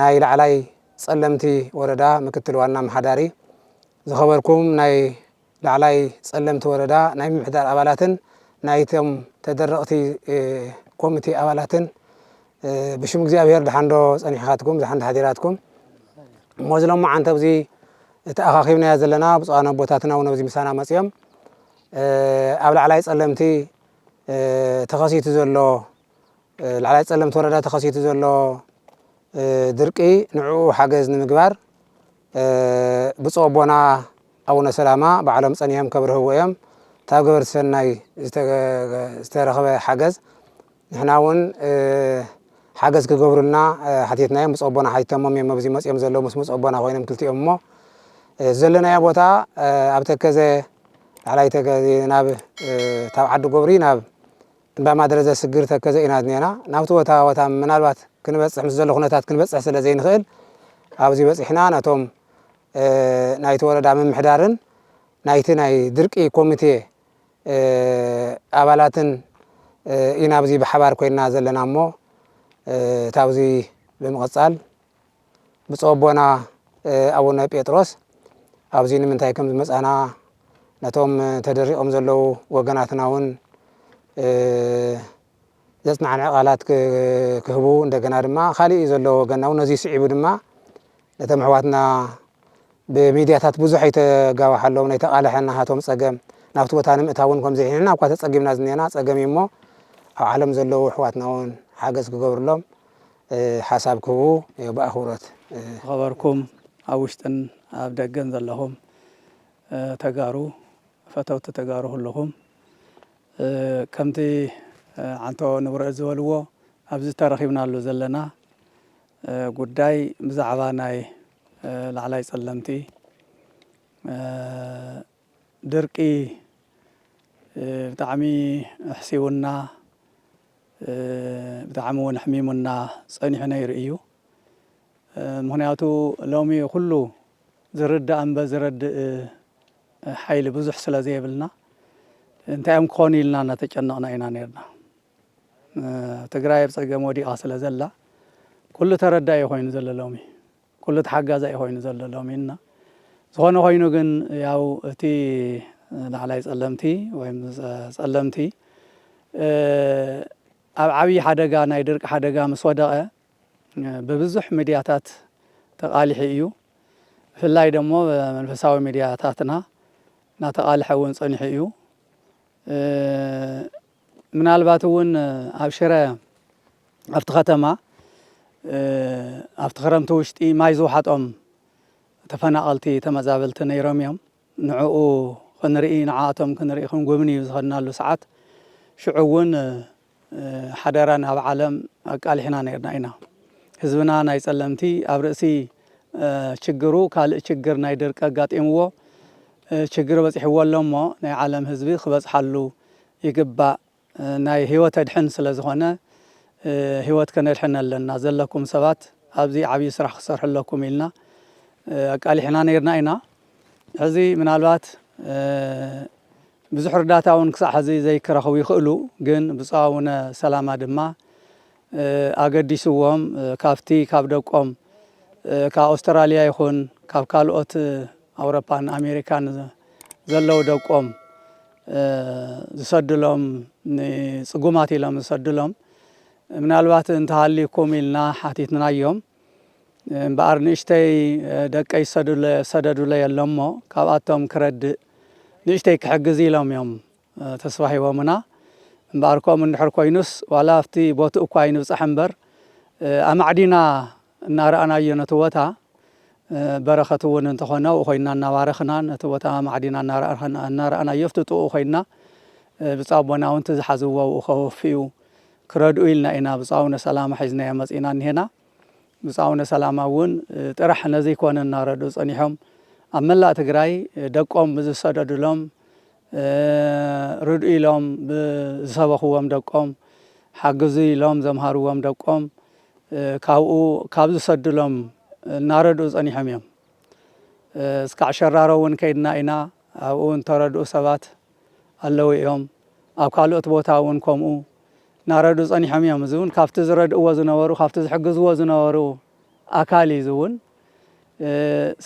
ናይ ላዕላይ ፀለምቲ ወረዳ ምክትል ዋና ኣመሓዳሪ፣ ዝኸበርኩም ናይ ላዕላይ ፀለምቲ ወረዳ ናይ ምምሕዳር ኣባላትን ናይቶም ተደረቕቲ ኮሚቴ ኣባላትን ብሽም እግዚኣብሄር ደሓን ዶ ፀኒሕኻትኩም፣ ደሓን ዶ ሓዲራትኩም? እሞ እዚ ሎማዓንቲ ኣብዚ ተኣኻኺብናዮ ዘለና ብፁዓን ኣቦታትና እውን ኣብዚ ምሳና መፂኦም ኣብ ላዕላይ ፀለምቲ ተኸሲቱ ዘሎ ላዕላይ ፀለምቲ ወረዳ ተኸሲቱ ዘሎ ድርቂ ንዕኡ ሓገዝ ንምግባር ብፁዕ ኣቦና ኣቡነ ሰላማ ባዕሎም ፀኒሖም ከብርህዎ እዮም ታብ ገበርቲ ሰናይ ዝተረኽበ ሓገዝ ንሕና እውን ሓገዝ ክገብሩልና ሓቲትናዮም ብፁዕ ኣቦና ሓቲቶሞም እዮም ኣብዚ መፅኦም ዘለዉ ምስ ብፁዕ ኣቦና ኮይኖም ክልቲኦም እሞ ዘለናዮ ቦታ ኣብ ተከዘ ላዕላይ ተከዘ ናብ ታብ ዓዲ ጎብሪ ናብ እንዳ ማድረ ዘስግር ተከዘ ኢና ዝኔና ናብቲ ቦታ ቦታ ምናልባት ክንበጽሕ ምስ ዘሎ ኩነታት ክንበጽሕ ስለ ዘይንክእል ኣብዚ በጺሕና ነቶም ናይቲ ወረዳ ምምሕዳርን ናይቲ ናይ ድርቂ ኮሚቴ ኣባላትን ኢና ኣብዚ ብሓባር ኮይንና ዘለና እሞ እታ ኣብዚ ብምቅጻል ብፁዕ ኣቦና ኣቡነ ጴጥሮስ ኣብዚ ንምንታይ ከም ዝመፃና ነቶም ተደሪቖም ዘለዉ ወገናትና እውን ዘፅናዕንዐ ቃላት ክህቡ እንደገና ድማ ካሊእ ዘሎ ወገና እውን ነዚ ስዒቡ ድማ ነቶም ኣሕዋትና ብሚድያታት ብዙሕ ኣይተጋባሓሎም ናይ ተቓልሐ ናሃቶም ፀገም ናብቲ ቦታ ንምእታው እውን ከምዘይ ንሕና እኳ ተፀጊምና ዝኒአና ፀገም እዩ እሞ ኣብ ዓለም ዘለዉ ኣሕዋትና እውን ሓገዝ ክገብርሎም ሓሳብ ክህቡ ብኣኽብሮት ዝኸበርኩም ኣብ ውሽጥን ኣብ ደገን ዘለኹም ተጋሩ ፈተውቲ ተጋሩ ኩሉኹም ከምቲ ዓንቶ ንብረት ዝበልዎ ኣብዚ ተረኺብናሉ ዘለና ጉዳይ ብዛዕባ ናይ ላዕላይ ጸለምቲ ድርቂ ብጣዕሚ ኣሕሲዉና ብጣዕሚ ውን ኣሕሚሙና ጸኒሑ ነይሩ እዩ። ምኽንያቱ ሎሚ ኩሉ ዝርዳእ እምበ ዝረድእ ሓይሊ ብዙሕ ስለ ዘይብልና እንታይ እዮም ክኾኑ ኢልና እናተጨነቕና ኢና ነርና። ትግራይ ኣብ ጸገም ወዲቓ ስለ ዘላ ኩሉ ተረዳኢ ኮይኑ ዘሎ ሎሚ። ኩሉ ተሓጋዛይ እዩ ኮይኑ ዘሎ ሎሚ እና ዝኾነ ኮይኑ ግን ያው እቲ ላዕላይ ጸለምቲ ወይም ጸለምቲ ኣብ ዓብይ ሓደጋ ናይ ድርቂ ሓደጋ ምስ ወደቐ ብብዙሕ ሚድያታት ተቃሊሑ እዩ ብፍላይ ደሞ መንፈሳዊ ሚድያታትና ናተቃልሐ እውን ጸኒሑ እዩ ምናልባት እውን ኣብ ሽረ ኣብቲ ከተማ ኣብቲ ክረምቲ ውሽጢ ማይ ዝውሓጦም ተፈናቐልቲ ተመዛበልቲ ነይሮም እዮም። ንዕኡ ክንርኢ ንዓኣቶም ክንርኢ ክንጉብንዩ ዝኸድናሉ ሰዓት ሽዑ እውን ሓደራ ናብ ዓለም ኣቃሊሕና ነይርና ኢና። ህዝብና ናይ ጸለምቲ ኣብ ርእሲ ችግሩ ካልእ ችግር ናይ ድርቂ ኣጋጢምዎ ችግር በጺሕዎ ኣሎ እሞ ናይ ዓለም ህዝቢ ክበጽሓሉ ይግባእ ናይ ሂወት ኣድሕን ስለ ዝኮነ ሂወት ከነድሕን ኣለና ዘለኩም ሰባት ኣብዚ ዓብይ ስራሕ ክትሰርሑ ኣለኩም ኢልና ኣቃሊሕና ነይርና ኢና ሕዚ ምናልባት ብዙሕ ርዳታ ውን ክሳዕ ሕዚ ዘይክረክቡ ይክእሉ ግን ብጹእ ኣውነ ሰላማ ድማ ኣገዲስዎም ካብቲ ካብ ደቆም ካብ ኣውስትራልያ ይኹን ካብ ካልኦት ኣውሮፓን ኣሜሪካን ዘለዉ ደቆም ዝሰድሎም ንፅጉማት ኢሎም ዝሰድሎም ምናልባት እንተሃልዩኩም ኢልና ሓቲትናዮም እምበኣር ንእሽተይ ደቀይ ዝሰደዱለይ ኣሎሞ ካብኣቶም ክረድእ ንእሽተይ ክሕግዝ ኢሎም እዮም ተስፋ ሂቦምና እምበኣር ከምኡ እንድሕር ኮይኑስ ዋላ ኣብቲ ቦትኡ እኳ ኣይንብጻሕ እምበር ኣማዕዲና እናረኣናዮ ነቲ ቦታ በረኸት እውን እንተኾነ ኣብኡ ኮይንና እናባረኽና ነቲ ቦታ ኣማዕዲና እናረኣናዮ ኣብቲ ጥቕኡ ኮይንና ብፁዕ ኣቦና እውን እቲ ዝሓዝዎ ኣብኡ ከወፍዩ ክረድኡ ኢልና ኢና ብፁዕ ኣቡነ ሰላማ ሒዝናዮ መጺእና እኒሄና ብፁዕ ኣቡነ ሰላማ እውን ጥራሕ ነዚ ኮነ እናረድኡ ጸኒሖም ኣብ መላእ ትግራይ ደቆም ብዝሰደዱሎም ርድኡ ኢሎም ብዝሰበኽዎም ደቆም፣ ሓግዙ ኢሎም ዘምሃርዎም ደቆም ካብኡ ካብ ዝሰዱሎም እናረድኡ ጸኒሖም እዮም። እስካዕ ሸራሮ እውን ከይድና ኢና፣ ኣብኡ እውን እተረድኡ ሰባት ኣለዉ እዮም። ኣብ ካልኦት ቦታ እውን ከምኡ እናረድኡ ጸኒሖም እዮም። እዚ እውን ካብቲ ዝረድእዎ ዝነበሩ፣ ካብቲ ዝሕግዝዎ ዝነበሩ ኣካል እዩ እዚ እውን።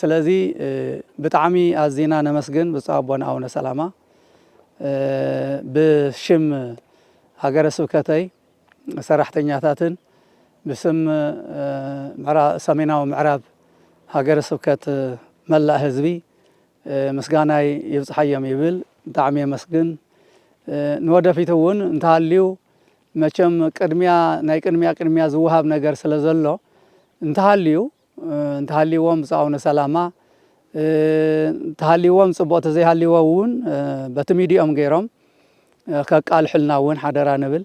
ስለዚ ብጣዕሚ ኣዚና ነመስግን ብፁዕ ኣቦና ኣቡነ ሰላማ ብሽም ሃገረ ስብከተይ ሰራሕተኛታትን ብስም ሰሜናዊ ምዕራብ ሃገረ ስብከት መላእ ህዝቢ ምስጋናይ ይብጽሓዮም ይብል ብጣዕሚ የመስግን ንወደፊት እውን እንተሃልዩ መቸም ቅድሚያ ናይ ቅድሚያ ቅድሚያ ዝወሃብ ነገር ስለ ዘሎ እንተሃልዩ እንተሃልይዎም ብፁዕ ኣቡነ ሰላማ እንተሃልይዎም ጽቡቕ ተዘይሃልይዎ እውን በቲ ሚድኦም ገይሮም ከቃልሑልና እውን ሓደራ ንብል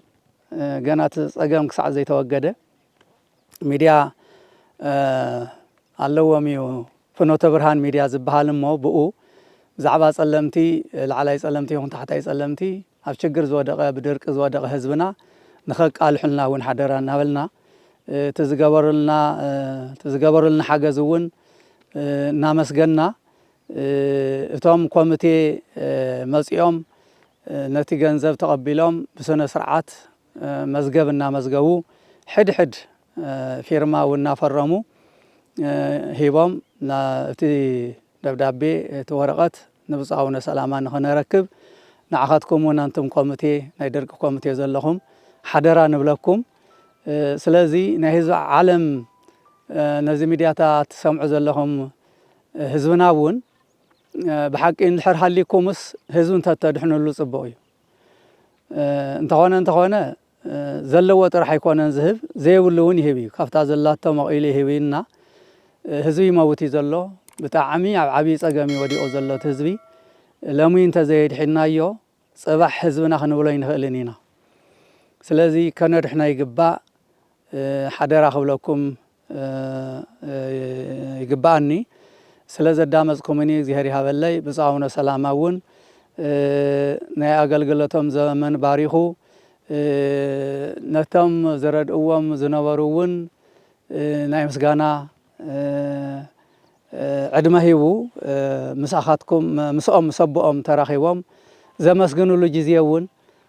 ገና እቲ ጸገም ክሳዕ ዘይተወገደ ሚድያ ኣለዎም እዩ ፍኖተ ብርሃን ሚድያ ዝበሃል እሞ ብኡ ብዛዕባ ጸለምቲ ላዕላይ ጸለምቲ ይኹን ታሕታይ ጸለምቲ ኣብ ችግር ዝወደቐ ብድርቂ ዝወደቐ ህዝብና ንኸቃልሑልና እውን ሓደራ እናበልና እቲ ዝገበሩልና እቲ ዝገበሩልና ሓገዝ እውን እናመስገንና እቶም ኮሚቴ መፂኦም ነቲ ገንዘብ ተቐቢሎም ብስነ ስርዓት መዝገብ እናመዝገቡ ሕድሕድ ፊርማ እውን እናፈረሙ ሂቦም እቲ ደብዳቤ እቲ ወረቐት ንብፁዕ ኣቡነ ሰላማ ንኽነረክብ ንዓኻትኩም እውን ኣንቱም ኮሚቴ ናይ ደርቂ ኮሚቴ ዘለኹም ሓደራ ንብለኩም ስለዚ ናይ ህዝቢ ዓለም ነዚ ሚድያታ ትሰምዑ ዘለኹም ህዝብና እውን ብሓቂ እንድሕር ሃሊኩምስ ህዝቢ እንተተድሕንሉ ፅቡቕ እዩ እንተኾነ እንተኾነ ዘለዎ ጥራሕ ኣይኮነን ዝህብ ዘይብሉ ውን ይህብ እዩ ካብታ ዘላቶ መቂሉ ይህብ እዩ እና ህዝቢ ይመውት እዩ ዘሎ ብጣዕሚ ኣብ ዓብይ ፀገም እዩ ወዲቁ ዘሎ እቲ ህዝቢ ለሙይ እንተዘየድሒናዮ ፅባሕ ህዝብና ክንብሎ ኣይንክእልን ኢና ስለዚ ከነድሕኖ ይግባእ ሓደራ ክብለኩም ይግበኣኒ ስለ ዘዳመፅኩምኒ እግዚሄር ይሃበለይ ብፁዕ ኣቡነ ሰላማ እውን ናይ ኣገልግሎቶም ዘመን ባሪኹ ነቶም ዝረድእዎም ዝነበሩ እውን ናይ ምስጋና ዕድመ ሂቡ ምሳኻትኩም ምስኦም ምስ ኣቦኦም ተራኺቦም ዘመስግንሉ ግዜ እውን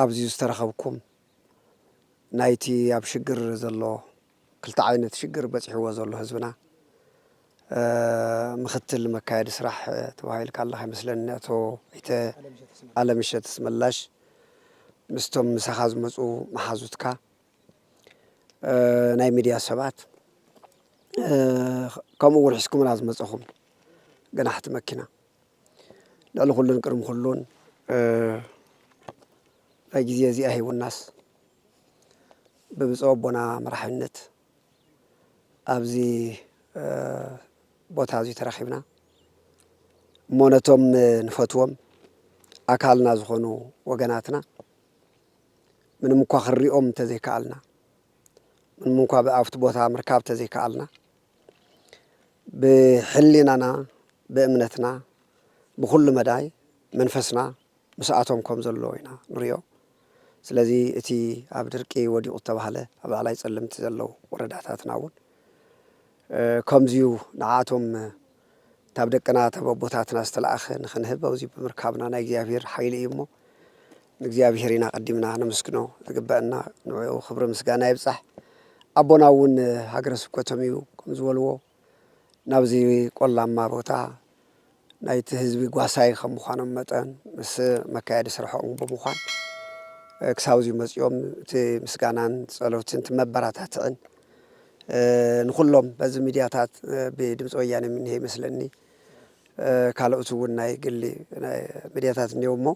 ኣብዚ ዝተረኸብኩም ናይቲ ኣብ ሽግር ዘሎ ክልተ ዓይነት ሽግር በጺሕዎ ዘሎ ህዝብና ምክትል መካየዲ ስራሕ ተባሂልካ ኣለኻ ይመስለኒ ኣቶ ኣይተ ኣለምሸት ኣስመላሽ ምስቶም ምሳኻ ዝመፁ መሓዙትካ ናይ ሚድያ ሰባት ከምኡ እውን ሒዝኩምና ዝመፀኹም ገናሕቲ መኪና ልዕሊ ኩሉን ቅድሚ ኩሉን ናይ ግዜ እዚኣ ሂቡናስ ብብፁዕ ኣቦና መራሕነት ኣብዚ ቦታ እዚ ተረኺብና እሞ ነቶም ንፈትዎም ኣካልና ዝኾኑ ወገናትና ምንም እኳ ክንሪኦም እንተዘይከኣልና ምንም እንኳ ብኣብቲ ቦታ ምርካብ እንተዘይከኣልና ብሕሊናና ብእምነትና ብኹሉ መዳይ መንፈስና ምስኣቶም ከም ዘሎ ኢና ንሪኦ። ስለዚ እቲ ኣብ ድርቂ ወዲቑ ዝተባህለ ኣብ ላዕላይ ጸለምቲ ዘለዉ ወረዳታትና እውን ከምዚዩ ንዓኣቶም ካብ ደቅና ካብ ኣቦታትና ዝተላእኸ ንኽንህብ ኣብዚ ብምርካብና ናይ እግዚኣብሔር ሓይሊ እዩ እሞ ንእግዚኣብሄር ኢና ቀዲምና ነመስግኖ ዝግበእና ንዕኡ ክብሪ ምስጋና ይብጻሕ ኣቦና እውን ሃገረ ስብከቶም እዩ ከም ዝበልዎ ናብዚ ቆላማ ቦታ ናይቲ ህዝቢ ጓሳይ ከም ምዃኖም መጠን ምስ መካየዲ ስርሖም ብምዃን ክሳብ እዚኡ መፂኦም እቲ ምስጋናን ፀሎትን እቲ መበረታትዕን ንኩሎም በዚ ሚድያታት ብድምፂ ወያነ ምንሄ ይመስለኒ ካልኦት እውን ናይ ግሊ ሚድያታት እኒው እሞ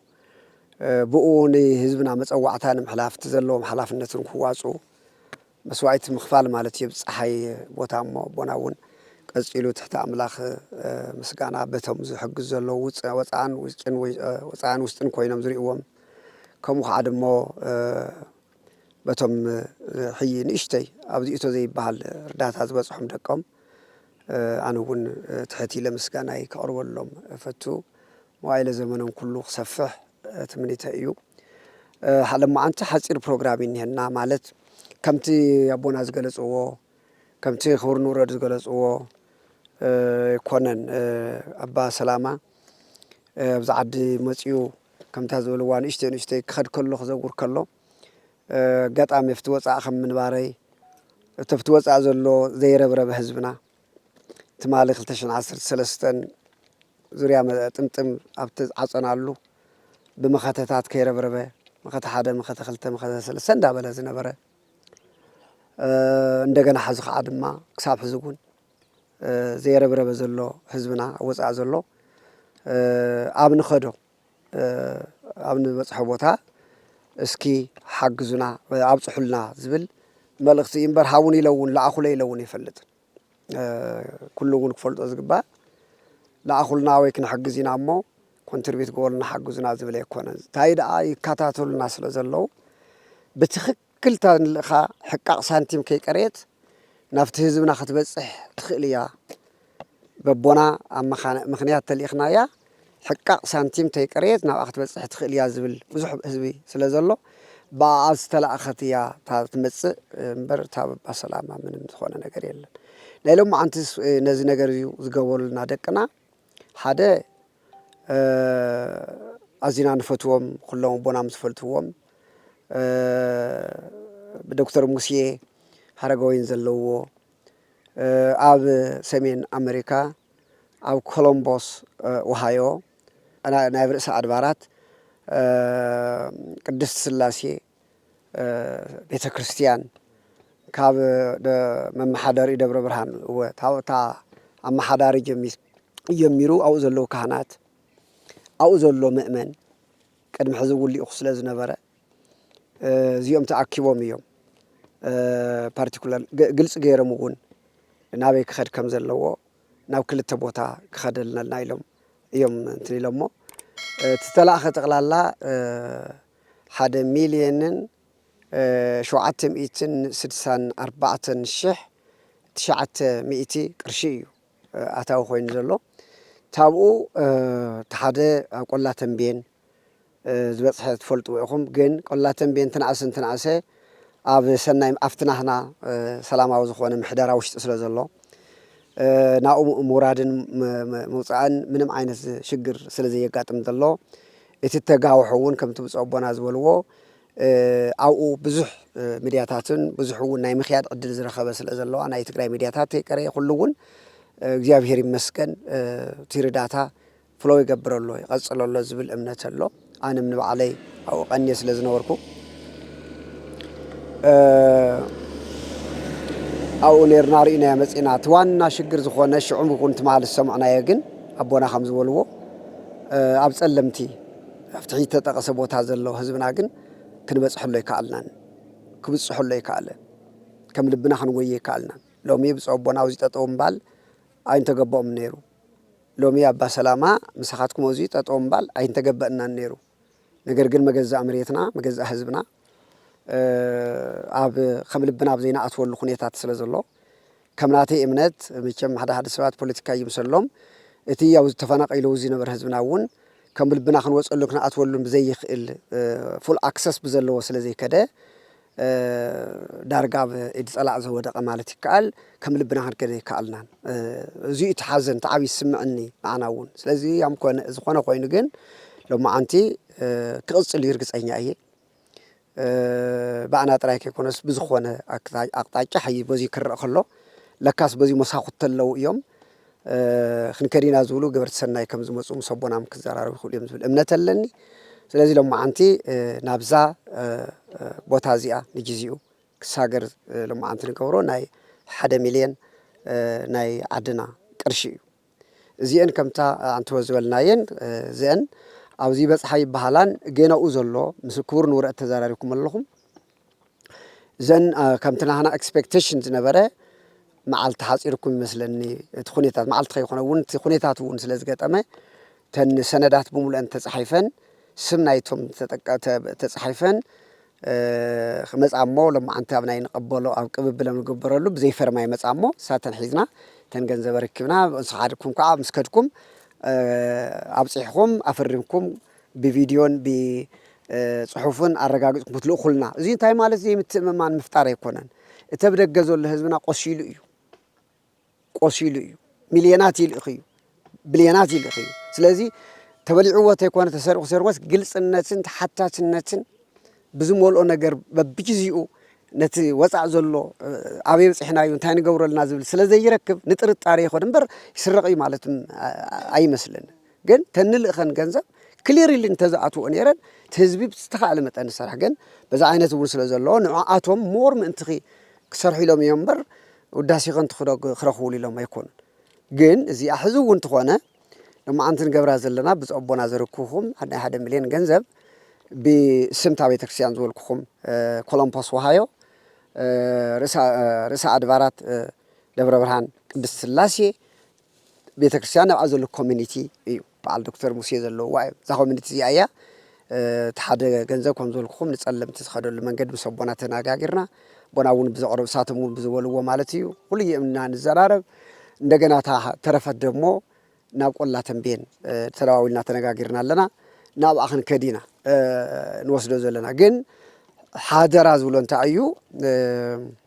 ብኡ ንህዝብና መጸዋዕታ ንምሕላፍ እቲ ዘለዎም ሓላፍነትን ክዋጽኡ መስዋእቲ ምኽፋል ማለት እዩ። ጸሓይ ቦታ እሞ ኣቦና እውን ቀጺሉ ትሕቲ ኣምላኽ ምስጋና በቶም ዝሕግዙ ዘለዉ ወጻእን ውሽጥን ኮይኖም ዝርእዎም ከምኡ ከዓ ድሞ በቶም ሕዪ ንእሽተይ ኣብዚ እቶ ዘይበሃል እርዳታ ዝበጽሖም ደቆም ኣነ እውን ትሕት ኢለ ምስጋናይ ከቕርበሎም እፈቱ። መዋእለ ዘመኖም ኩሉ ክሰፍሕ ትምኒተይ እዩ። ሓደ ሎማዓንቲ ሓጺር ፕሮግራም እዩ እኒሀና ማለት ከምቲ ኣቦና ዝገለጽዎ ከምቲ ክቡር ንውረድ ዝገለጽዎ ኣይኮነን ኣባ ሰላማ ኣብዚ ዓዲ መፂኡ ከምታ ዝበልዋ ንእሽተይ ንእሽተይ ክኸድ ከሎ ክዘውር ከሎ ኣጋጣሚ ኣብቲ ወፃእ ከም ምንባረይ እቲ ኣብቲ ወፃእ ዘሎ ዘይረብረበ ህዝብና ትማሊ 213 ዙርያ ጥምጥም ኣብቲ ዓፀናሉ ብመኸተታት ከይረብረበ መኸተ ሓደ መኸተ ክልተ መኸተ ሰለስተ እንዳበለ ዝነበረ እንደገና ሓዚ ከዓ ድማ ክሳብ ሕዚ እውን ዘየረብረበ ዘሎ ህዝብና ኣብ ወፃኢ ዘሎ ኣብ ንኸዶ ኣብ ንበፅሖ ቦታ እስኪ ሓግዙና ኣብፅሑልና ዝብል መልእኽቲ እዩ እምበር ሃቡን ኢለ እውን ለኣኹለ ኢለ እውን ይፈልጥን ኩሉ እውን ክፈልጦ ዝግባእ ለኣኹልና ወይ ክንሕግዝ ኢና እሞ ኮንትሪቢት ገበሉና ሓግዙና ዝብል ኣይኮነን እንታይ ደኣ ይከታተሉና ስለ ዘለዉ ብትኽክል ክልተ ንልእኻ ሕቃቕ ሳንቲም ከይቀረየት ናብቲ ህዝብና ክትበጽሕ ትኽእል እያ በቦና ኣብ መኻነ ምኽንያት ተልኢኽናያ ሕቃቕ ሳንቲም ተይቀረየት ናብኣ ክትበጽሕ ትኽእል እያ ዝብል ብዙሕ ህዝቢ ስለ ዘሎ ብኣኣ ዝተላእኸት እያ እታ ትመጽእ እምበር እታ በባ ሰላማ ምንም ዝኾነ ነገር የለን ናይ ሎማዓንትስ ነዚ ነገር እዩ ዝገበሩልና ደቅና ሓደ ኣዚና ንፈትዎም ኩሎም ኣቦና ምስ ዝፈልትዎም ብዶክተር ሙሴ ሃረገወይን ዘለዎ ኣብ ሰሜን ኣመሪካ ኣብ ኮሎምቦስ ውሃዮ ናይ ርእሰ ኣድባራት ቅድስት ስላሴ ቤተ ክርስትያን ካብ መመሓደሪ ደብረ ብርሃን እወ ታወታ ኣመሓዳሪ ጀሚሩ ኣብኡ ዘለዉ ካህናት ኣብኡ ዘሎ ምእመን ቅድሚ ሕዚ እውን ልኢኹ ስለ ዝነበረ እዚኦም ተኣኪቦም እዮም ፓርቲኩላር ግልፂ ገይሮም እውን ናበይ ክኸድ ከም ዘለዎ ናብ ክልተ ቦታ ክኸድ ኣለና ኢሎም እዮም እንትን ኢሎሞ እቲ ተላእኸ ጠቕላላ ሓደ ሚልየንን ሸውዓተ ሚእትን ስድሳን ኣርባዕተን ሽሕ ትሽዓተ ሚእቲ ቅርሺ እዩ ኣታዊ ኮይኑ ዘሎ ታብኡ ተሓደ ኣብ ቆላ ተንቤን ዝበፅሐ ትፈልጥዎ ኢኹም ግን ቆላ ተንቤን ትንኣስ እንትንኣሰ ኣብ ሰናይ ኣብቲ ናህና ሰላማዊ ዝኾነ ምሕደራ ውሽጢ ስለ ዘሎ ናብኡ ምውራድን ምውፃእን ምንም ዓይነት ሽግር ስለ ዘየጋጥም ዘሎ እቲ ተጋውሖ እውን ከምቲ ብፁዕ ኣቦና ዝበልዎ ኣብኡ ብዙሕ ሚድያታትን ብዙሕ እውን ናይ ምክያድ ዕድል ዝረኸበ ስለ ዘለዋ ናይ ትግራይ ሚድያታት ይቀረ ኩሉ እውን እግዚኣብሔር ይመስገን እቲ ርዳታ ፍሎ ይገብረሎ ይቐፅለሎ ዝብል እምነት ኣሎ ኣንም ንባዕለይ ኣብኡ ቀንየ ስለ ዝነበርኩ ኣብኡ ነርና ርኢናዮ መፂና እቲ ዋና ሽግር ዝኾነ ሽዑም ይኹን ትማል ዝሰምዕናዮ ግን ኣቦና ከም ዝበልዎ ኣብ ጸለምቲ ኣብ ትሕቲ ዝተጠቐሰ ቦታ ዘሎ ህዝብና ግን ክንበጽሐሉ ኣይከኣልናን፣ ክብጽሐሉ ኣይከኣለን፣ ከም ልብና ክንጎዩ ኣይከኣልናን። ሎሚ ብፁዕ ኣቦና ኣብዚ ጠጠው ምባል ኣይምተገበኦምን ነይሩ፣ ሎሚ ኣባ ሰላማ ምሳኻትኩም ኣብዚ ጠጠው ምባል ኣይምተገበእናን ነይሩ፣ ነገር ግን መገዛእ መሬትና መገዛእ ህዝብና ኣብ ከም ልብና ኣብ ዘይንኣትወሉ ኩነታት ስለ ዘሎ ከም ናተይ እምነት መቸም ሓደ ሓደ ሰባት ፖለቲካ ይምሰሎም እቲ ያው ተፈናቂሉ ዝነበረ ህዝብና እውን ከም ልብና ክንወፀሉን ክንኣትወሉን ብዘይኽእል ፉል ኣክሰስ ብዘለዎ ስለዘይከደ ዳርጋ ኣብ ኢድ ፀላእ ዝወደቐ ማለት ይከኣል ከም ልብና ክንከድ ኣይከኣልናን። እዙይ እቲ ሓዘን እቲ ዓብዪ ዝስምዐኒ ንዓና እውን ስለዚ ያም ኮነ ዝኾነ ኮይኑ ግን ሎማዓንቲ ክቕፅል እዩ እርግፀኛ እየ። ብኣና ጥራይ ከይኮነስ ብዝኾነ ኣቅጣጫ ሕዚ በዚ ክረእ ከሎ ለካስ በዚ መሳኹቲ ኣለዉ እዮም ክንከድ ኢና ዝብሉ ገበርቲ ሰናይ ከም ዝመፁ ምስ ኣቦናም ክዘራረቡ ይኽእሉ እዮም ዝብል እምነት ኣለኒ ስለዚ ሎማዓንቲ ናብዛ ቦታ እዚኣ ንግዚኡ ክሳገር ሎማዓንቲ ንገብሮ ናይ ሓደ ሚልዮን ናይ ዓድና ቅርሺ እዩ እዚኤን ከምታ ኣንትዎ ዝበልናየን እዚኤን ኣብዚ ይበጽሓ ይበሃላን ጌናኡ ዘሎ ምስ ክቡር ንውረድ ተዛራሪብኩም ኣለኹም እዘን ከምቲ ናህና ኤክስፔክቴሽን ዝነበረ መዓልቲ ሓፂርኩም ይመስለኒ እቲ ኩነታት መዓልቲ ከይኮነ እውን እቲ ኩነታት እውን ስለ ዝገጠመ እተን ሰነዳት ብምሉአን ተፃሒፈን ስም ናይቶም ተፃሒፈን ክመጻ እሞ ሎማዓንቲ ኣብ ናይ ንቀበሎ ኣብ ቅብብለ ንግበረሉ ብዘይ ፈርማ ይመጻ እሞ ንሳተን ሒዝና እተን ገንዘብ ኣረኪብና ንስኻድኩም ካዓ ምስ ከድኩም ኣብጺሕኹም ኣፈሪምኩም ብቪድዮን ብ ጽሑፍን ኣረጋጊጽኩም ክትልእኹልና እዚ እንታይ ማለት ዘይምትእምማን ምፍጣር ኣይኮነን እቲ ኣብ ደገ ዘሎ ህዝብና ቆሲሉ እዩ። ቆሲሉ እዩ ሚልዮናት ይልእኽ እዩ ብልዮናት ይልእኽ እዩ ስለዚ ተበሊዕዎ ተይኮነ ተሰሪቑ ሰሪቑስ ግልፅነትን ተሓታትነትን ብዝመልኦ ነገር በብግዚኡ ነቲ ወፃእ ዘሎ ኣበይ በፂሕና እዩ እንታይ ንገብረልና ዝብል ስለ ዘይረክብ ንጥርጣሬ ይኸዶ እምበር ይስረቕ እዩ ማለት ኣይመስልን ግን ተንልእኸን ገንዘብ ክሊሪሊ እንተዝኣትውኦ ነይረን እቲ ህዝቢ ብዝተኻእለ መጠን ዝሰርሕ ግን በዚ ዓይነት እውን ስለ ዘለዎ ንዕኣቶም ሞር ምእንትኺ ክሰርሑ ኢሎም እዮም እምበር ውዳሴኸን ክረኽቡሉ ኢሎም ኣይኮኑን። ግን እዚኣ ሕዚ እውን እንተኾነ ሎማዓንቲ ንገብራ ዘለና ብፁዕ ኣቦና ዘርክብኹም ናይ ሓደ ሚልዮን ገንዘብ ብስም እታ ቤተክርስትያን ዝበልኩኹም ኮሎምፖስ ወሃዮ ርእሰ ኣድባራት ደብረ ብርሃን ቅድስት ስላሴ ቤተክርስትያን ኣብኣ ዘሎ ኮሚኒቲ እዩ በዓል ዶክተር ሙሴ ዘለውዋ እዮም እዛ ኮሚኒቲ እዚኣ እያ እቲ ሓደ ገንዘብ ከም ዝበልኩኹም ንፀለምቲ ዝኸደሉ መንገዲ ምስ ኣቦና ተነጋጊርና ኣቦና እውን ብዘቕረቡ እሳቶም እውን ብዝበልዎ ማለት እዩ ኩሉ የምና ንዘራረብ እንደገና እታ ተረፈት ደግሞ ናብ ቆላ ተንቤን ተደዋዊልና ተነጋጊርና ኣለና ናብኣ ክንከድ ኢና ንወስዶ ዘለና ግን ሓደራ ዝብሎ እንታይ እዩ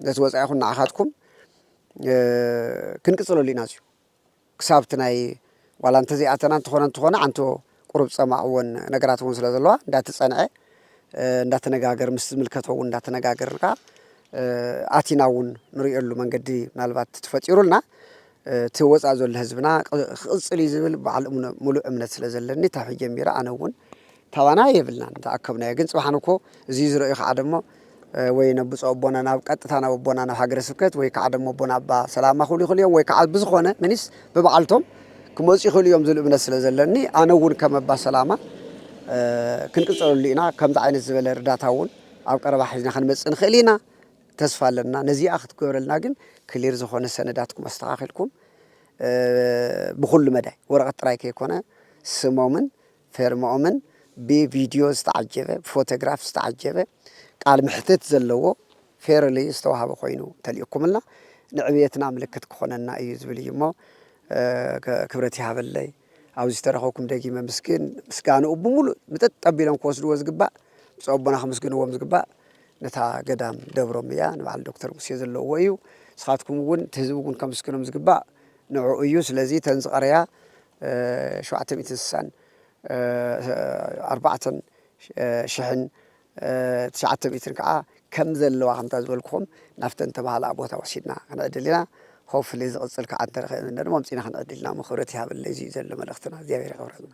ነቲ ወፃኢኹም ንዓኻትኩም ክንቅጽለሉ ኢና እዚዩ ክሳብ እቲ ናይ ዋላ እንተዘይኣተና እንተኾነ እንተኾነ ዓንቶ ቁሩብ ጸማእ ወን ነገራት እውን ስለ ዘለዋ እንዳተጸንዐ እንዳተነጋገር ምስ ዝምልከቶ እውን እንዳተነጋገርካ ኣቲና እውን ንሪኦሉ መንገዲ ምናልባት ትፈጢሩልና እቲ ወፃእ ዘሎ ህዝብና ክቕፅል እዩ ዝብል በዓል ሙሉእ እምነት ስለ ዘለኒ ታብ ጀሚረ ኣነ እውን ታባና የብልናን እንተኣከብናዮ ግን ጽባሕ ንግሆ እዚ ዝረእዩ ከኣ ደሞ ወይ ነብጾ ኣቦና ናብ ቀጥታ ናብ ኣቦና ናብ ሃገረ ስብከት ወይ ከኣ ደሞ ኣቦና ኣባ ሰላማ ክብሉ ይኽእሉ እዮም ወይ ከኣ ብዝኾነ ምኒስ ብበዓልቶም ክመጹ ይኽእሉ እዮም ዝብል እምነት ስለ ዘለኒ ኣነ እውን ከም ኣባ ሰላማ ክንቅጽለሉ ኢና ከምዚ ዓይነት ዝበለ ርዳታ እውን ኣብ ቀረባ ሒዝና ክንመጽእ ንኽእል ኢና ተስፋ ኣለና ነዚኣ ክትገብረልና ግን ክሊር ዝኾነ ሰነዳትኩም ኣስተኻኺልኩም ብኹሉ መዳይ ወረቐት ጥራይ ከይኮነ ስሞምን ፌርምኦምን ብቪድዮ ዝተዓጀበ ብፎተግራፍ ዝተዓጀበ ቃል ምሕትት ዘለዎ ፌርሊ ዝተዋህበ ኮይኑ ተሊእኩምልና ንዕብየትና ምልክት ክኾነና እዩ ዝብል እዩ እሞ ክብረት ይሃበለይ ኣብዚ ዝተረኸብኩም ደጊመ ምስግን ምስጋንኡ ብምሉእ ምጥጥ ጠቢሎም ክወስድዎ ዝግባእ ምስ ኣቦና ክምስግንዎም ዝግባእ ነታ ገዳም ደብሮም እያ ንበዓል ዶክተር ሙሴ ዘለዎ እዩ ንስኻትኩም እውን እቲ ህዝቢ እውን ከምስግኖም ዝግባእ ንዕኡ እዩ ስለዚ ተን ዝቐረያ ሸውዓተ ሚእትን ስሳን ኣርባዕተን ሽሕን ትሽዓተ ሚእትን ከኣ ከም ዘለዋ ከምታ ዝበልኩኹም ናብተን ተባሃላ ቦታ ወሲድና ክንዕድል ኢና Hopefully ዝቕጽል ከኣ እንተ ረኺብና ድማ ኣምጺእና ክንዕድል ኢና እሞ ክብረት ይሃበለይ እዚ እዩ ዘሎ መልእኽትና እግዚኣብሔር የኽብረልና።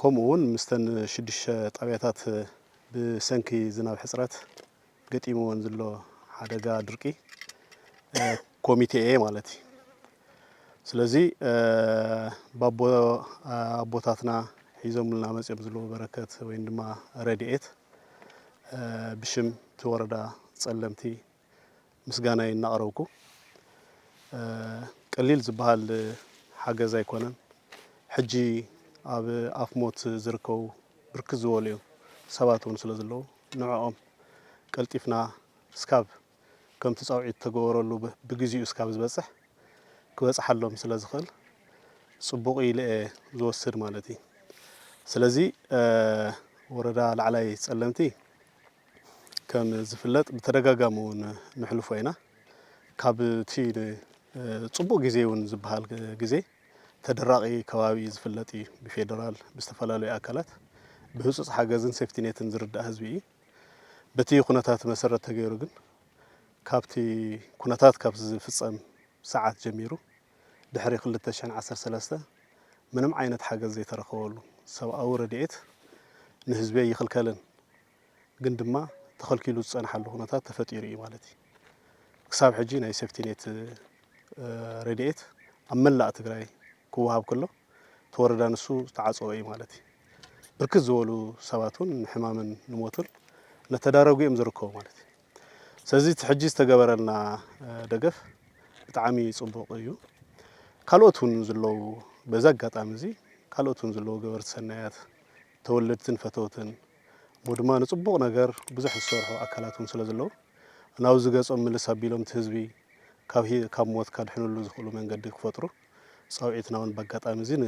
ከምኡ እውን ምስተን ሽዱሽተ ጣብያታት ብሰንኪ ዝናብ ሕፅረት ገጢምወን ዝሎ ሓደጋ ድርቂ ኮሚቴ እየ ማለት እዩ። ስለዚ ባቦ ኣቦታትና ሒዞምልና መፅኦም ዝሎ በረከት ወይም ድማ ረድኤት ብሽም እቲ ወረዳ ፀለምቲ ምስጋናይ እናቕረብኩ፣ ቀሊል ዝበሃል ሓገዝ ኣይኮነን። ሕጂ ኣብ ኣፍ ሞት ዝርከቡ ብርክት ዝበሉ ሰባት እውን ስለ ዘለዉ፣ ንዕኦም ቀልጢፍና እስካብ ከምቲ ጻውዒት እተገበረሉ ብግዜኡ እስካብ ዝበጽሕ ክበጽሓሎም ስለ ዝኽእል ጽቡቕ ኢለ እየ ዝወስድ ማለት እዩ። ስለዚ ወረዳ ላዕላይ ጸለምቲ ከም ዝፍለጥ ብተደጋጋሚ እውን ንሕልፎ ኢና ካብቲ ፅቡቅ ግዜ እውን ዝበሃል ግዜ ተደራቂ ከባቢ ዝፍለጥ እዩ ብፌደራል ብዝተፈላለዩ ኣካላት ብህፁፅ ሓገዝን ሴፍቲኔትን ዝርዳእ ህዝቢ እዩ በቲ ኩነታት መሰረት ተገይሩ ግን ካብቲ ኩነታት ካብ ዝፍፀም ሰዓት ጀሚሩ ድሕሪ ክልተ ሽሕን ዓሰርተ ሰለስተ ምንም ዓይነት ሓገዝ ዘይተረኸበሉ ሰብኣዊ ረድኤት ንህዝቢ ኣይኽልከልን ግን ድማ ተኸልኪሉ ዝፀንሓሉ ኩነታት ተፈጢሩ እዩ ማለት እዩ። ክሳብ ሕጂ ናይ ሴፍቲኔት ረድኤት ኣብ መላእ ትግራይ ክወሃብ ከሎ ተወረዳ ንሱ ዝተዓፀወ እዩ ማለት እዩ። ብርክት ዝበሉ ሰባት እውን ንሕማምን ንሞትን እነተዳረጉ እዮም ዝርከቡ ማለት እዩ። ስለዚ እቲ ሕጂ ዝተገበረልና ደገፍ ብጣዕሚ ጽቡቕ እዩ። ካልኦት እውን ዝለዉ በዚ ኣጋጣሚ እዚ ካልኦት እውን ዝለዉ ገበርቲ ሰናያት ተወለድትን ፈተውትን እሞ ድማ ንጽቡቕ ነገር ብዙሕ ዝሰርሑ ኣካላት እውን ስለ ዘለዉ ናብዚ ገጾም ምልስ ኣቢሎም እቲ ህዝቢ ካብ ሞት ካድሕንሉ ዝኽእሉ መንገዲ ክፈጥሩ ጻውዒትና ውን ባጋጣሚ እዚ ን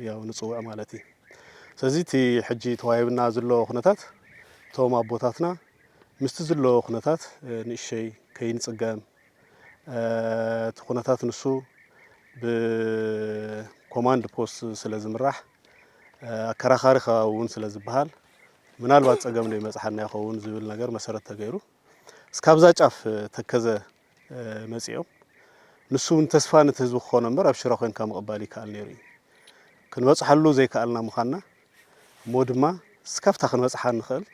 ያው ንጽውዕ ማለት እዪ ስለዚ እቲ ሕጂ ተዋሂብና ዝሎ ኩነታት እቶም ኣቦታትና ምስቲ ዝሎ ኩነታት ንእሸይ ከይንጽገም እቲ ኩነታት ንሱ ብኮማንድ ፖስት ስለ ዝምራሕ ኣከራኻሪ ከባቢ እውን ስለ ዝበሃል ምናልባት ጸገም ዶ ይመጽሓና ይኸውን ዝብል ነገር መሰረት ተገይሩ እስካብዛ ጫፍ ተከዘ መጺኦም ንሱ ውን ተስፋ ነቲ ህዝቢ ክኾኖ እምበር ኣብ ሽረ ኮንካ ምቕባል ይከኣል ነይሩ እዩ። ክንበጽሓሉ ዘይከኣልና ምዃንና እሞ ድማ እስካብታ ክንበጽሓ ንኽእል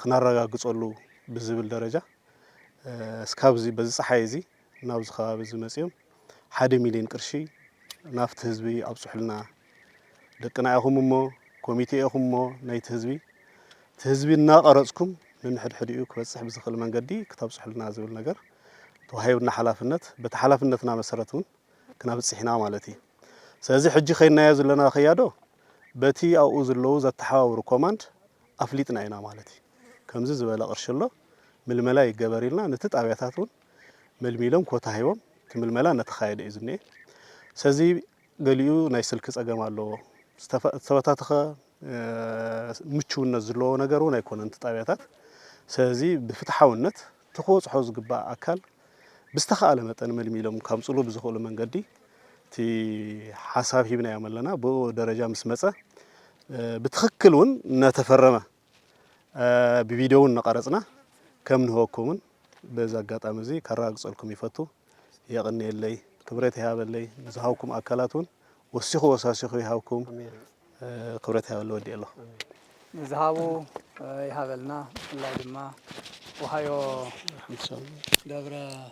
ክናረጋግጸሉ ብዝብል ደረጃ እስካብዚ በዚ ጸሓይ እዚ ናብዚ ከባቢ እዚ መጺኦም ሓደ ሚልዮን ቅርሺ ናፍቲ ህዝቢ ኣብጹሑልና ደቅና ኢኹም እሞ ኮሚቴ ኢኹም እሞ ናይቲ ህዝቢ እቲ ህዝቢ እናቐረጽኩም ንንሕድሕድኡ ክበጽሕ ብዝኽእል መንገዲ ክተብጽሑልና ዝብል ነገር ተዋሂብና ሓላፍነት በቲ ሓላፍነትና መሰረት እውን ክነብጽሕና ማለት እዩ ስለዚ ሕጂ ከይናዮ ዘለና ከያዶ በቲ ኣብኡ ዘለዉ ዘተሓባብሩ ኮማንድ ኣፍሊጥና ኢና ማለት እዩ ከምዚ ዝበለ ቅርሺ ኣሎ ምልመላ ይገበር ኢልና ነቲ ጣብያታት እውን መልሚሎም ኮታ ሂቦም እቲ ምልመላ እናተኻየደ እዩ ዝኒኤ። ሰዚ ገሊኡ ናይ ስልኪ ጸገም ኣለዎ። ዝተበታተኸ ምቹውነት ዝለዎ ነገር እውን ኣይኮነን እቲ ጣብያታት። ሰዚ ብፍትሓውነት እቲ ክበጽሖ ዝግባእ ኣካል ብዝተኻእለ መጠን መልሚሎም ከምጽሉ ብዝኽእሉ መንገዲ እቲ ሓሳብ ሂብናዮም ኣለና። ብኡ ደረጃ ምስ መጸ ብትኽክል እውን እናተፈረመ ብቪድዮ እውን እናቐረፅና ከም ንህበኩምን በዚ ኣጋጣሚ እዚ ከረጋግፀልኩም ይፈቱ። የቕንየለይ፣ ክብረት ይሃበለይ፣ ንዝሃብኩም ኣካላት እውን ወሲኹ ወሳሲኹ ይሃብኩም። ክብረት ይሃበለይ፣ ወዲኤ ኣለኹ። ንዝሃቡ ይሃበልና ብፍላይ ድማ ወሃዮ ደብረ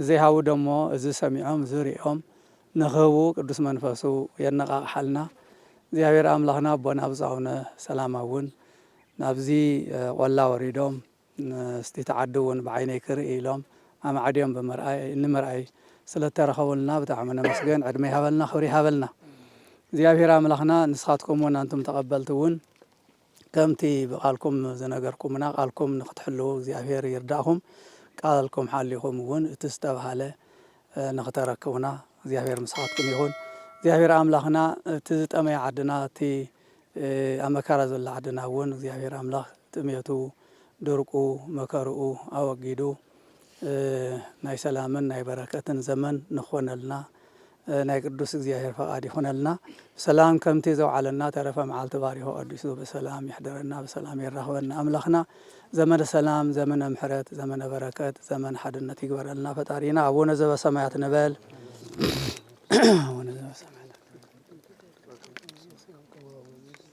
ንዘይሃቡ ደሞ እዚ ሰሚዖም እዚ ርእዮም ንኽህቡ ቅዱስ መንፈሱ የነቓቕሓልና። እግዚኣብሔር ኣምላኽና ኣቦና ብፁዕ ኣቡነ ሰላማ እውን ናብዚ ቖላ ወሪዶም ምስቲ ተዓዲ እውን ብዓይነይ ክርኢ ኢሎም ኣማዕድዮም ብምርኣይ ንምርኣይ ስለ እተረኸቡልና ብጣዕሚ ነመስግን ዕድመ ይሃበልና ክብሪ ይሃበልና እግዚኣብሔር ኣምላኽና ንስኻትኩም እውን ኣንቱም ተቐበልቲ እውን ከምቲ ብቃልኩም ዝነገርኩምና ቃልኩም ንክትሕልዉ እግዚኣብሔር ይርዳእኹም ቃልኩም ሓሊኹም እውን እቲ ዝተብሃለ ንክተረክቡና እግዚኣብሔር ምሳኻትኩም ይኹን እግዚኣብሔር ኣምላኽና እቲ ዝጠመየ ዓድና እቲ ኣብ መከራ ዘሎ ዓድና እውን እግዚኣብሔር ኣምላኽ ጥሜቱ ድርቁ መከርኡ ኣወጊዱ ናይ ሰላምን ናይ በረከትን ዘመን ንኾነልና ናይ ቅዱስ እግዚኣብሔር ፈቃድ ይኹነልና ብሰላም ከምቲ ዘውዓለና ተረፈ መዓልቲ ባሪኹ ቀዲሱ ብሰላም የሕድረና ብሰላም የራኽበና ኣምላኽና ዘመነ ሰላም ዘመነ ምሕረት ዘመነ በረከት ዘመነ ሓድነት ይግበረልና ፈጣሪና ኣቡነ ዘበሰማያት ንበል ኣቡነ ዘበሰማያት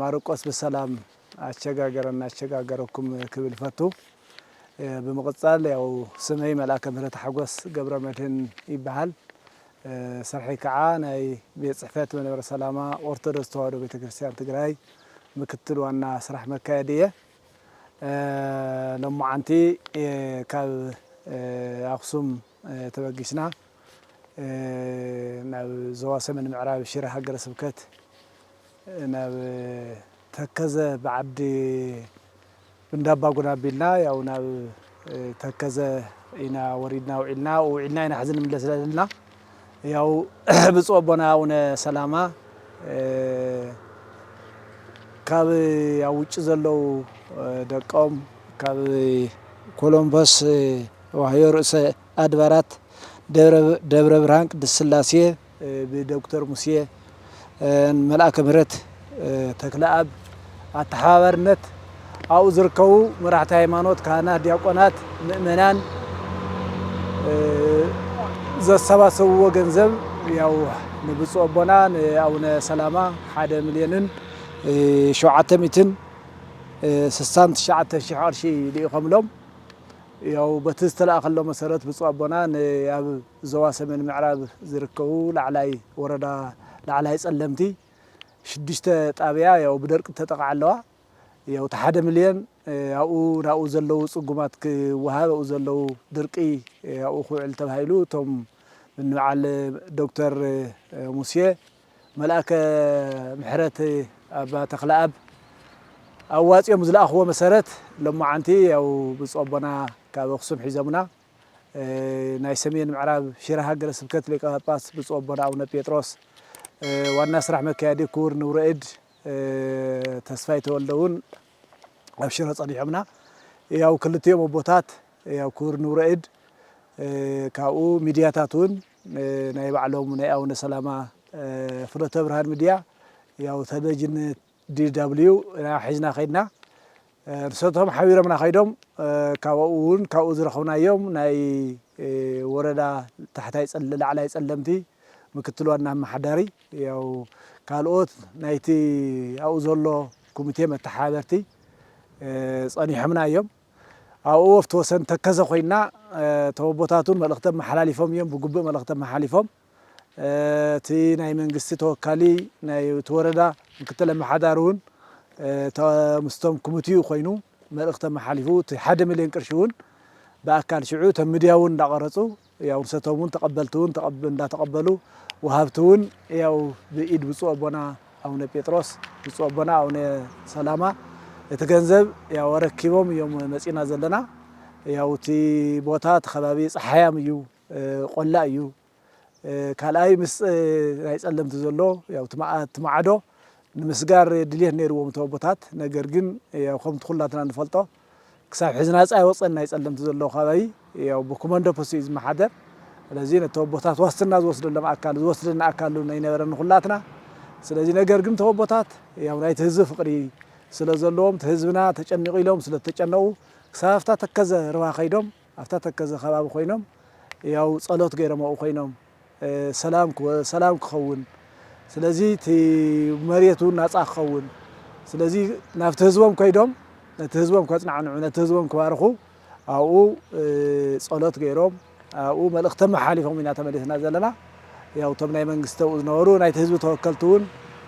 ማርቆስ ብሰላም ኣሸጋገረና ኣሸጋገረኩም ክብል ይፈቱ ብምቅጻል ያው ስመይ መልኣከ ምህረት ሓጎስ ገብረመድህን ይበሃል ስርሐይ ከኣ ናይ ቤት ጽሕፈት መንበረ ሰላማ ኦርቶዶስ ተዋህዶ ቤተክርስትያን ትግራይ ምክትል ዋና ስራሕ መካየዲ እየ ሎሞዓንቲ ካብ ኣክሱም ተበጊስና ናብ ዞባ ሰሜን ምዕራብ ሽረ ሃገረ ስብከት ናብ ተከዘ ብዓዲ እንዳባጉና ኣቢልና ያው ናብ ተከዘ ኢና ወሪድና ውዒልና ውዒልና ኢና ሕዚ ንምለስ ዘለና ያው ብፁዕ ኣቦና ኣቡነ ሰላማ ካብ ኣብ ውጭ ዘለው ደቆም ካብ ኮሎምበስ ዋህዮ ርእሰ ኣድባራት ደብረ ብርሃን ቅድስት ሥላሴ ብዶክተር ሙሴ ን መልኣከ ምህረት ተክለኣብ ኣተሓባባርነት ኣብኡ ዝርከቡ መራሕቲ ሃይማኖት ካህናት ዲያቆናት ምእመናን ዘሰባሰብዎ ገንዘብ ያው ንብፁዕ ኣቦና ንኣቡነ ሰላማ ሓደ ምልዮንን ሸውዓተ ሚእትን ስሳን ትሽዓተን ሺሕ ቅርሺ ልኢኾምሎም ያው በቲ ዝተላእከሎም መሰረት ብፁእ ኣቦና ንኣብ ዞባ ሰሜን ምዕራብ ዝርከቡ ላዕላይ ወረዳ ላዕላይ ፀለምቲ ሽዱሽተ ጣብያ ያው ብደርቂ ዝተጠቕዓ ኣለዋ ያው እቲ ሓደ ምልዮን ኣብኡ ናብኡ ዘለዉ ፅጉማት ክወሃብ ኣብኡ ዘለዉ ድርቂ ኣብኡ ክውዕል ተባሂሉ እቶም ንበዓል ዶክተር ሙሴ መልኣከ ምሕረት ኣባ ተኽለኣብ ኣዋጺኦም ዝለኣኽዎ መሰረት ሎማዓንቲ ያው ብፁዕ ኣቦና ካብ ኣክሱም ሒዞምና ናይ ሰሜን ምዕራብ ሽረ ሃገረ ስብከት ሊቀ ጳጳስ ብፁዕ ኣቦና ኣቡነ ጴጥሮስ ዋና ስራሕ መካየዲ ክቡር ንብረ እድ ተስፋይ ተወልደ እውን ኣብ ሽረ ጸኒሖምና ያው ክልቲኦም ኣቦታት ያው ክቡር ንብረ እድ ካብኡ ሚድያታት እውን ናይ ባዕሎም ናይ ኣውነ ሰላማ ፍኖተ ብርሃን ምድያ ያው ተለቪዥን DW ኢና ሒዝና ከይድና ንሰቶም ሓቢሮምና ከይዶም ካብኡ እውን ካብኡ ዝረኽብናዮም ናይ ወረዳ ታሕታይ ፀለ ላዕላይ ፀለምቲ ምክትል ዋና ኣማሓዳሪ ያው ካልኦት ናይቲ ኣብኡ ዘሎ ኮሚቴ መተሓባበርቲ ፀኒሖምና እዮም። ኣብ ኦወፍት ወሰን ተከዘ ኮይና እቶም ኣቦታት ውን መልእኽቲ ኣመሓላሊፎም እዮም ብጉብእ መልእኽቲ ኣመሓሊፎም እቲ ናይ መንግስቲ ተወካሊ ናይ እቲ ወረዳ ምክትል ኣመሓዳሪ ውን ምስቶም ክምቲኡ ኮይኑ መልእኽቲ ኣመሓሊፉ እቲ ሓደ ሚልዮን ቅርሺ ውን ብኣካል ሽዑ እቶም ምድያ ውን እንዳቀረፁ ያው ንሰቶም እውን ተቀበልቲ እውን እንዳተቀበሉ ወሃብቲ እውን ያው ብኢድ ብፁዕ ኣቦና ኣቡነ ጴጥሮስ ብፁዕ ኣቦና ኣቡነ ሰላማ እቲ ገንዘብ ያው ኣረኪቦም እዮም መጺና ዘለና ያው እቲ ቦታ እቲ ከባቢ ፀሓያም እዩ ቆላ እዩ ካልኣይ ምስ ናይ ጸለምቲ ዘሎ ያው እቲ ማዕዶ ንምስጋር ድልየት ነይርዎም እቲ ኣቦታት ነገር ግን ያው ከምቲ ኩላትና ንፈልጦ ክሳብ ሕዚ ናጻ ኣይወጸን ናይ ጸለምቲ ዘለዎ ከባቢ ያው ብኩመንዶ ፖስት እዩ ዝመሓደር ስለዚ ነተወቦታት ዋስትና ዝወስደሎም ኣካል ዝወስደና ኣካል ኣይነበረን ንኩላትና ስለዚ ነገር ግን ተወቦታት ያው ናይቲ ህዝቢ ፍቅሪ ስለ ዘለዎም ህዝብና ተጨኒቁ ኢሎም ስለ ዝተጨነቁ ክሳብ ኣብታ ተከዘ ርባ ከይዶም ኣብታ ተከዘ ከባቢ ኮይኖም ያው ጸሎት ገይሮም ኣብኡ ኮይኖም ሰላም ሰላም ክኸውን ስለዚ እቲ መሬት እውን ናፃ ክኸውን ስለዚ ናብቲ ህዝቦም ከይዶም ነቲ ህዝቦም ከፅናዕንዑ ነቲ ህዝቦም ክባርኹ ኣብኡ ፀሎት ገይሮም ኣብኡ መልእኽቲ መሓሊፎም ኢና ተመሊስና ዘለና ያው እቶም ናይ መንግስቲ ኣብኡ ዝነበሩ ናይቲ ህዝቢ ተወከልቲ እውን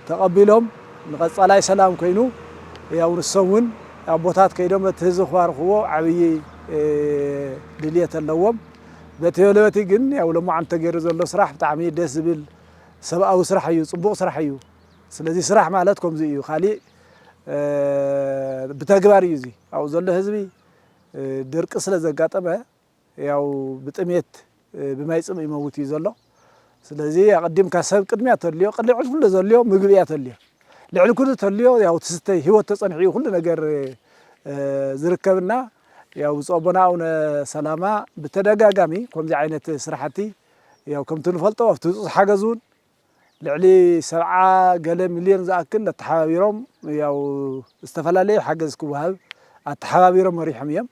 ተቐቢሎም ንቐፃላይ ሰላም ኮይኑ ያው ንሶም እውን ኣቦታት ከይዶም እቲ ህዝቢ ክባርኽዎ ዓብዪ ድልየት ኣለዎም። በቲ በለበቲ ግን ያው ሎማዓንቲ ተገይሩ ዘሎ ስራሕ ብጣዕሚ ደስ ዝብል ሰብኣዊ ስራሕ እዩ ፅቡቅ ስራሕ እዩ ስለዚ ስራሕ ማለት ከምዚ እዩ ካሊእ ብተግባር እዩ እዚ ኣብኡ ዘሎ ህዝቢ ድርቂ ስለዘጋጠመ ያው ብጥምየት ብማይ ፅምእ ይመውት እዩ ዘሎ። ስለዚ ኣቀዲምካ ሰብ ቅድሚያ ተልዮ ቅልዕል ኩሉ ዘልዮ ምግቢ እያ ተልዮ ልዕሊ ኩሉ ተልዮ ያው ትስተይ ህይወት ተጸንሑ እዩ ኩሉ ነገር ዝርከብና ያው ብፁዕ ኣቦና ኣቡነ ሰላማ ብተደጋጋሚ ከምዚ ዓይነት ስራሕቲ ያው ከምቲ ንፈልጦ ኣብቲ ህፁፅ ሓገዝ እውን ልዕሊ ሰብዓ ገለ ሚልዮን ዝኣክል ኣተሓባቢሮም ያው ዝተፈላለየ ሓገዝ ክወሃብ ኣተሓባቢሮም መሪሖም እዮም።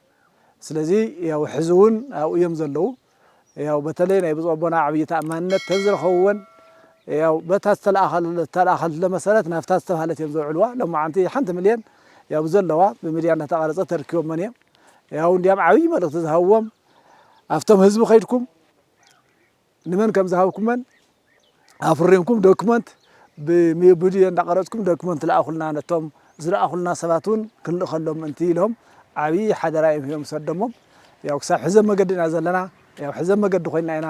ስለዚ ያው ሕዚ እውን ኣብኡ እዮም ዘለዉ። ያው በተለይ ናይ ብፁዕ ኣቦና ዓብይ ተኣማንነት እተን ዝረኸብወን ያው በታ ዝተልኣኸትሎም መሰረት ናብታ ዝተብሃለት እዮም ዘውዕልዋ ሎማዓንቲ ሓንቲ ምልየን ያው ብዘለዋ ብሚድያ እናተቓረፀት ተርኪቦመን እዮም ያው እንድያም ዓብይ መልእኽቲ ዝሃብዎም ኣፍቶም ህዝቢ ከይድኩም ንመን ከምዝሃብኩመን ኣፍሪምኩም ዶክመንት ብሚብድዮ እንዳቀረጽኩም ዶክመንት ልኣኹልና ነቶም ዝልኣኹልና ሰባት ውን ክንልእኸሎም ምእንቲ ኢሎም ዓብዪ ሓደራ ኢዮም ሂቦም ሰደሞም ያው ክሳብ ሕዚ ኣብ መገዲ ኢና ዘለና ያው ሕዚ ኣብ መገዲ ኮይና ኢና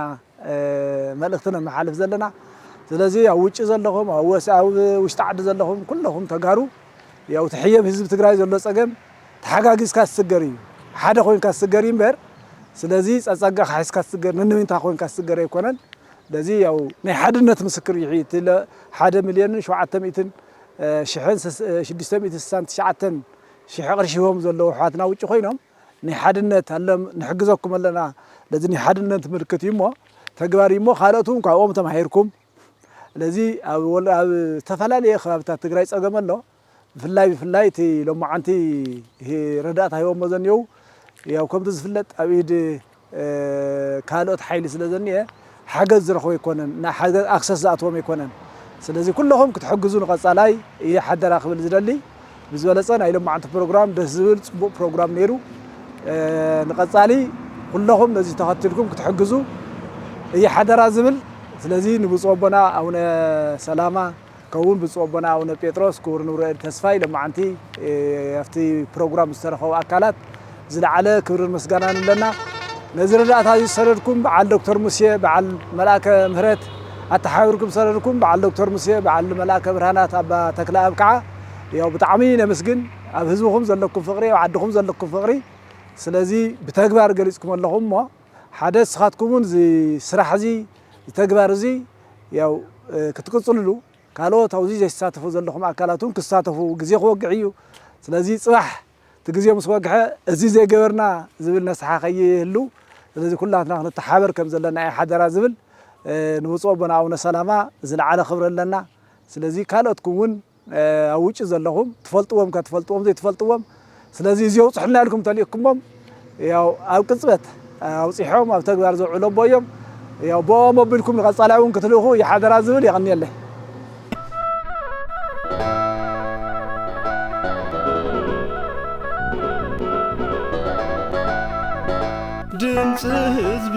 መልእኽቲ ነመሓልፍ ዘለና ስለዚ ኣብ ውጭ ዘለኹም ኣብ ወስ ኣብ ውሽጢ ዓዲ ዘለኹም ኩለኹም ተጋሩ ያው ትሕየብ ህዝቢ ትግራይ ዘሎ ጸገም ተሓጋጊዝካ ዝስገር እዩ ሓደ ኮይንካ ዝስገር እዩ እምበር ስለዚ ጸጸጋኻ ሒዝካ ትስገር ንንዊንታ ኮይንካ ትስገር ኣይኮነን በዚ ያው ናይ ሓድነት ምስክር እዩ እቲ ሓደ ሚልዮንን ሸውዓተ ሚእትን ሽሕን ሽዱሽተ ሚእትን ስሳን ትሽዓተን ሽሕ ቅርሺ ሂቦም ዘለዉ ኣሕዋትና ውጪ ኮይኖም ናይ ሓድነት ኣለም ንሕግዘኩም ኣለና ለዚ ናይ ሓድነት ምልክት እዩ እሞ ተግባር እዩ እሞ ካልኦት እውን ካብኦም ተማሂርኩም ለዚ ኣብ ዝተፈላለዩ ከባቢታት ትግራይ ፀገም ኣሎ ብፍላይ ብፍላይ እቲ ሎማዓንቲ ረዳእታ ሂቦሞ ዘኒኦው ያው ከምቲ ዝፍለጥ ኣብ ኢድ ካልኦት ሓይሊ ስለ ዘኒኤ ሓገዝ ዝረኽቡ ኣይኮነን ናይ ሓገዝ ኣክሰስ ዝኣትዎም ኣይኮነን ስለዚ ኩለኹም ክትሕግዙ ንቐፃላይ እየ ሓደራ ክብል ዝደሊ ብዝበለፀ ናይ ሎማዓንቲ ፕሮግራም ደስ ዝብል ፅቡቕ ፕሮግራም ነይሩ ንቐፃሊ ኩለኹም ነዚ ተኸትልኩም ክትሕግዙ እየ ሓደራ ዝብል ስለዚ ንብፁዕ ኣቦና ኣቡነ ሰላማ ከውን ብፁዕ ኣቦና ኣቡነ ጴጥሮስ ክቡር ንብረኤል ተስፋይ ለማዓንቲ ኣብቲ ፕሮግራም ዝተረኸቡ ኣካላት ዝለዓለ ክብርን ምስጋናን ኣለና ነዚ ረዳእታ እዚ ዝሰደድኩም በዓል ዶክተር ሙሴ በዓል መልኣከ ምህረት ኣተሓባቢርኩም ዝሰደድኩም በዓል ዶክተር ሙሴ በዓል መልኣከ ብርሃናት ኣባ ተክለኣብ ከዓ ያው ብጣዕሚ ነመስግን ኣብ ህዝብኹም ዘለኩም ፍቅሪ ኣብ ዓድኹም ዘለኩም ፍቅሪ ስለዚ ብተግባር ገሊፅኩሞ ኣለኹም እሞ ሓደ እስኻትኩምውን እዚ ስራሕ እዚ ተግባር እዚ ያው ክትቅፅልሉ ካልኦት ኣብዙይ ዘይሳተፉ ዘለኹም ኣካላት እውን ክሳተፉ ግዜ ክወግሕ እዩ ስለዚ ፅባሕ እቲ ግዜ ምስ ወግሐ እዚ ዘይገበርና ዝብል ነስሓ ከይህሉ ስለዚ ኩላትና ክንተሓበር ከም ዘለና እዩ ሓደራ ዝብል ንብፁዕ ኣቦና ኣቡነ ሰላማ ዝለዓለ ክብሪ ኣለና ስለዚ ካልኦትኩም እውን ኣብ ውጪ ዘለኹም ትፈልጥዎም ከ ትፈልጥዎም ዘይትፈልጥዎም ስለዚ እዚ ኣውፅሑልና ኢልኩም ተልእኩሞም ያው ኣብ ቅፅበት ኣውፂሖም ኣብ ተግባር ዘውዕሎ ኣቦ እዮም ያው ብኦም ኣቢልኩም ንቐፃላይ እውን ክትልእኹ ይሓደራ ዝብል የቐንየለይ ድምፂ ህዝቢ